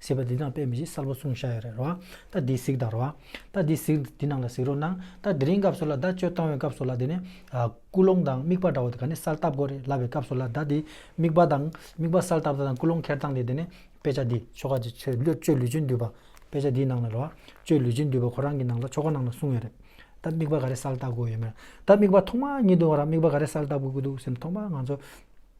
ཟེར་བ་འདི་དང་དཔེ་མི་ཞིག་གསར་པ་གསུངས་ཤ་ཡ་རེད་རོ་རྟ་འདི་གཟིགས་དང་རོ་རྟ་འདི་གཟིགས་འདི་ནང་ལ་གཟིགས་རོགས་གནང་རྟ་འདི་རིང་སྐབས་སུ་ལ་རྡ་གཅོད་བཏང་བའི་སྐབས་སུ་ལ་འདི་ནས་སྐུ་སློང་དང་དམིགས་པ་འདྲ་བོ་དེ་ག་ནས་གསལ་བཏབ་གོ་རེ་ལབ་པའི་སྐབས་སུ་ལ་རྡ་འདི་དམིགས་པ་དང་དམིགས་པ་གསལ་བཏབ་ད་དང་སྐུ་སློང་ཁེར་བཏང་དེ་འདི་ནས་དཔེ་ཆ་འདི་ཆོ་ག་འདི་ཆོས་བློས་གཅོད་ལུས་ཅན་འདུས་པ་དཔེ་ཆ་འདིའི་ནང་ལ་རོ་གཅོད་ལུས་ཅན་འདུས་པ་ཁོ་རང་གི་ནང་ལ་ཆོ་ག་ནང་ལ་གསུངས་ཡོད་རེད་ད་དམིགས་པ་ག་རེ་གསལ་བཏབ་དགོས་ཡོད་མེད་རེད་ད་དམིགས་པ་ཐོག་མ་ཉིད་དུ་ང་རང་དམིགས་པ་ག་རེ་གསལ་བཏབ་དགོས་ཀྱི་འདུག་སེམས་ཐོག་མ་ང་ཚོ།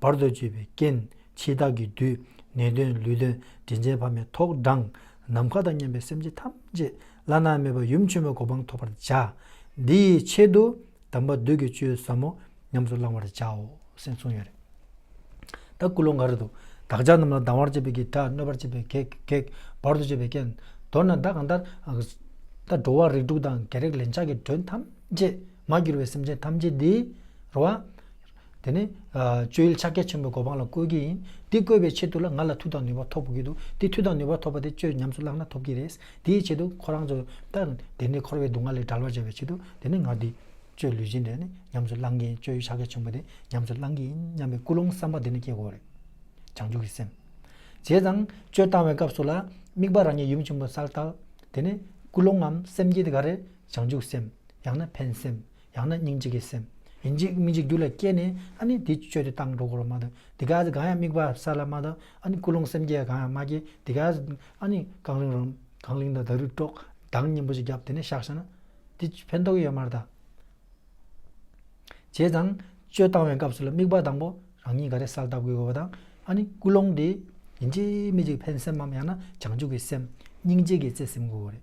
བར་དོ་གཅོད་པའི་རྐྱེན་འཆི་བདག་གི་བདུད། ནད་གདོན་ལུས་གདོན་དྲིན་ཅན་ཕ་མའི་ཐོག་དྲངས། ནམ་མཁའ་དང་མཉམ་པའི་སེམས་ཅན་ཐམས་ཅད་བླ་ན་མེད་པ་ཡུམ་ཆེན་པོའི་གོ་འཕང་ཐོབ་པར་བྱ། འདི་ཡི་ཆེད་དུ་དམ་པ་བདུད་ཀྱི་བཅུད་ཟབ་མོ་ཉམས་སུ་བླང་བར་བྱའོ། སེམས་གསུངས་ཡོད། ད་སྐུ་ལོ་འགའ་རེ་དུ་བདག་ཅག་རྣམས་ལ་སྡང་བར་བྱེད་པའི་གེགས་དགྲ་གནོད་པར་བྱེད་པའི་གེགས། བར་དོ་གཅོད་པའི་རྐྱེན། མདོར་ན་བདག་གང་ལྟར། འགྲོ་བ་རིགས་དྲུག་དང་རྒྱལ་རིགས་ལན་ཆགས་ཀྱི་མགྲོན་ཐམས་ཅད། མ་གྱུར་པའི་སེམས་ཅན་ཐམས་ཅད་འདི། རུ་བ། དེ་ནི། སྤྱོད་ཡུལ་ཕྱག་རྒྱ་ཆེན་པོའི་གོ་འཕང་ལ་བཀོལ་གྱི་ཡིན། འདི་བཀོལ་བའི་ཆེད་དུ་ལ་ང་ལ་མཐུ་དང་ནུས་པ་ཐོབ་དགོས་ཀྱི་འདུག་འདི་མཐུ་དང་ནུས་པ་ཐོབ་པ་དེ་སྤྱོད་ཉམས་སུ་བླངས་ན་ཐོབ་ཀྱི་རེད། དེའི་ཆེད་དུ་ཁོ་རང་ཚོ། དེ་ནི་འཁོར་བའི་སྡུག་བསྔལ་ལས་བྲལ་བར་བྱ་བའི་ཆེད་དུ་དེ་ནི་ང་འདི། སྤྱོད་ལུས་སྦྱིན་འདི་ནི་ཉམས་སུ་བླང་གི་ཡིན་སྤྱོད་ཡུལ་ཕྱག་རྒྱ་ཆེན་པོ་འདི་ཉམས་སུ་བླང་གི་ཡིན་སྙམ་པའི་ཀུན་སློང་བསམ་པ་འདི་ནི་སྐྱེ་དགོས་རེད། བྱང་ཆུབ་ཀྱི་སེམས། བྱས་ཙང། སྤྱོད་བཏང་བའི་སྐབས་སུ་ལ། དམིགས་པ་རང་ཉིད་ཡུམ་ཆེན་པོ་གསལ་བཏབ། དེ་ནི། ཀུན་སློང་ངམ་སེམས་བསྐྱེད་དེ་ག་རེ། བྱང་ཆུབ་སེམས། ཡང་ན་ཕན་སེམས། ཡང་ན་སྙིང་རྗེ་གི་སེམས། ཡིན་གཅིག་སྨིན་གཅིག་རྒྱུད་ལ་སྐྱེས་ནས་ཨ་ནི་འདི་སྤྱོད་དེ་བཏང་འགྲོ་དགོས་རོ་མ་གཏོགས་འདི་ག་ཟེ་གང་ཡང་དམིགས་པ་ས་ལ་མ་གཏོགས་ཨ་ནི་ཀུན་སློང་སེམས་བསྐྱེད་གང་ཡང་མ་སྐྱེས་འདི་ག་ཟེ་ཨ་ནི་རྐང་རིང་རོ། རྐང་གླིང་དང་དར་རུས་དཀྲོགས། གདངས་སྙན་པོ་ཞིག་བརྒྱབ་དེ་ནས་བཤགས་བྱས་ན། འདི་ཕན་ཐོགས་ཡོད་མར་དང། བྱས་ཙང། སྤྱོད་བཏང་བའི་སྐབས་སུ་ལ་དམིགས་པ་དང་པོ་རང་ཉིད་ག་རེ་གསལ་བཏབ་དགོས་དགོས་པ་དང་ཨ་ནི་ཀུན་སློང་དེ། ཡིན་གཅིག་སྨིན་གཅིག་ཕན་སེམས་མམ་ཡང་ན་བྱང་ཆུབ་ཀྱི་སེམས། སྙིང་རྗེ་གི་བརྩེ་སེམས་དགོས་རེད།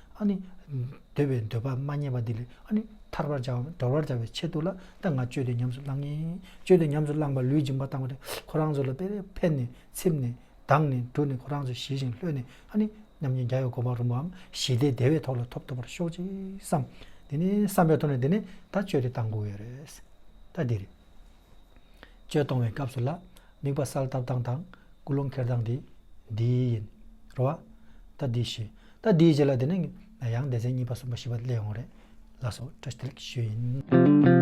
ཨ་ནི། འདོད་པའི་འདོད་པ་མ་རྙེད་པ་འདི་ལས་ཨ་ནི། ཐར་བར་བྱ་བ་མིན་དོར་བར་བྱ་བའི་ཆེད་དུ་ལ་ད་ང་སྤྱོད་དུ་ཉམས་སུ་བླང་ངེས། སྤྱོད་དུ་ཉམས་སུ་བླངས་པ་ལུས་སྦྱིན་པ་བཏང་བ་དེ་ཁོ་རང་ཚོ་ལ་དཔེ་རེ་ཕན་ནས་ཚིམ་ནས་གདངས་ནས་འབྲུ་ནི་ཁོ་རང་ཚོ་ཞི་ཞིང་ལྷོད་ནས་ཨ་ནི། མཉམ་ཉིད་རྒྱ་ཡོད་གོ་འཕང་རིན་པོའམ་ཞི་བདེའི་བདེ་བའི་ཐོག་ལ་ཐོབ་ཐུབ་པར་ཤོག་ཅིག་བསམ། དེ་ནི་བསམ་པའི་ཐོག་ནས་དེ་ནི་ད་སྤྱོད་དེ་བཏང་དགོས་ཡོད་རེད། ད་དེ་རེད། གཅོད་གཏོང་བའི་སྐབས་སུ་ལ་དམིགས་པ་གསལ་བཏབ་སྟངས་དང་ཀུན་སློང་འཁྱེར་སྟངས་དེ་འདི་ཡིན། རོ། ཨ། ད་འདི་ཞེས། ད་འདི་ཞེས་ལ་དེ་ནི་ཡང་སྡེ་ཚན་གཉིས་པ་གསུམ་པ་བཞི་པ་སླེ་ཡོང་བ་རེད། ལ་སོགས་སྤྲོ་སྟེར་གྱི་ཤུལ་ཡིན།